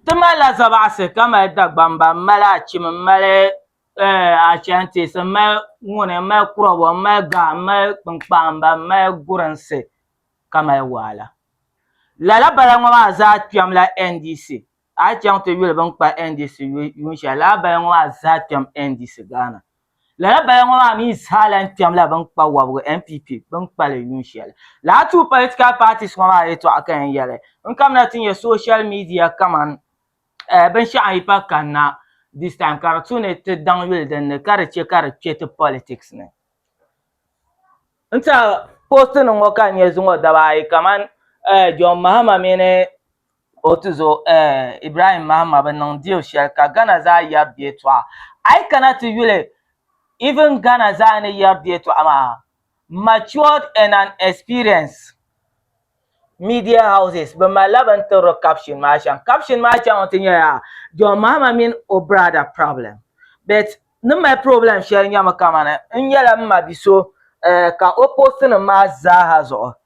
Ti malila zabaɣisi ka mali Dagbamba, m-mali Achim, m-mali eh, Ashantis, m-mali Nguni, m-mali Krobo, m-mali Ga, m-mali Kpinkpahimba, m-mali Gurinsi ka mali Waala. Lala bala ŋɔ maa zaa kpɛmla NDC. A yi chaŋ ti yuli bɛ ni kpa NDC yuun shɛli lala bala ŋɔ maa zaa kpɛm NDC Ghana. Lala bala ŋɔ maa mi zaa lahi kpɛm la bini kpa wɔbigu NPP bini kpali yuun shɛli. Lala two political parties ŋɔ maa yɛtɔɣa ka yɛn yɛli n kamina ti nyɛ social media kaman binshɛɣu n yi pa kanna this time ka di tu ni ti daŋ yuli din ni ka di chɛ ka di kpɛ ti politics ni. N tɛha post nim ŋɔ ka n nyɛ zuŋɔ daba ayi kaman John Mahama mini O tizo eh, Ibrahim Mahama bi niŋ deal shɛli ka Ghana zaa yɛri di yɛltɔɣa. A yi kana ti yuli even Ghana zaa ni yɛri di yɛltɔɣa maa, matured and an experienced media houses bi malila bini tiriri caption maa shɛm. Caption maa chaŋ ti nyɛla John Mahama mini o brada problem. But ni mali problem shɛli nyɛmi kamani n nyɛla m ma bi so eh, ka o post nim maa zaaha zuɣu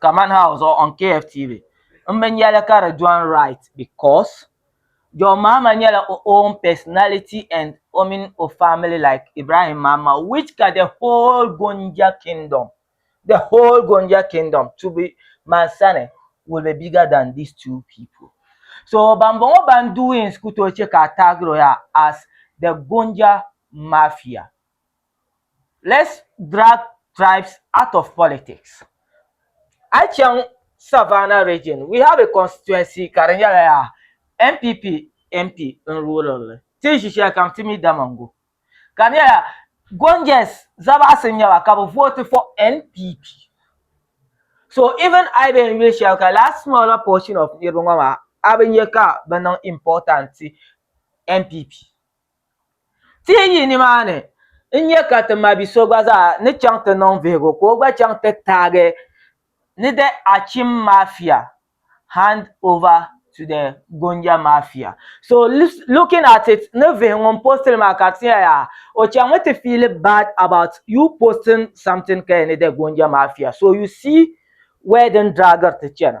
kaman house or on KFTV m bi nyɛli ka di dɔn right because John Mahama nyɛla o own personality and o mini o family like Ibrahim Mahama which ka the whole Gonja kingdom the whole Gonja kingdom to be man sani will be bigger than these two people so ban bɔŋɔ ban doings ku tooi chɛ ka a tagir o yaa as the Gonja mafia. let's drag tribes out of politics a yi chaŋ Savannah region we have a constituency ka di nyɛla yaa NPP MP n ruling li ti ni ʒi shɛli kam ti mi Damongo ka di nyɛla Gonjɛs Zabaɣisi n nyɛba ka bi vote for NPP so even a yi bɛn yuli shɛli ka lala smaller portion of niriba ŋɔ maa a bi nyɛ ka bi niŋ important ti NPP Ti yi nimaani n-nya ka ti mabi so gba zaa ni chaŋ ti niŋ vihigu ka o gba chaŋ ti taagi ni the Achim Mafia hand over to the Gonja Mafia. So looking at it ni vihi ŋun post li maa ka ti nya yaa o chaŋmi ti feel bad about you posting something kaya ni the Gonja Mafia so you see where din draagiri ti chana.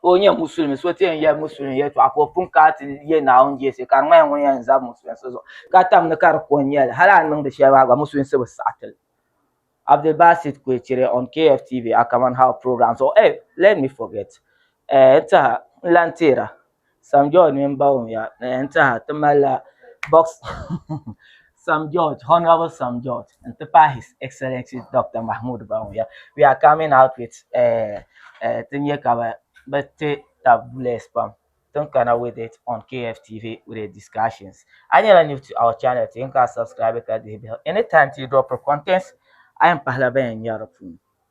ka o nyɛ musulimi so ti yɛn yɛ musulimi yɛltɔɣa ka o pun kana ti yɛ Naawuni jɛsi ka di ŋmanila ŋun yɛn zab musulinsi zuɣu ka tam ni ka di ko n-nyɛli hali a ni niŋdi shɛli maa gba musulinsi bi saɣi ti li. Abdulbasit Kwecire on KFTV Akaman How Program zuɣu. Sam George mini Bawumia ni yɛn teha ti malila boxing Sam George, Honourable Sam George n ti pahi His Excellency Dr. Mahmood Bawumia. We are coming out with eh, eh, ti nya ka bi bi ti tab bless pam tin kana with it on KFTV with the discussions. A nyɛla new to our channel ti yɛn ka subscribe ka dihi bihi. Anytime ti drop contents a yɛn pahila ban yɛn nya di puuni.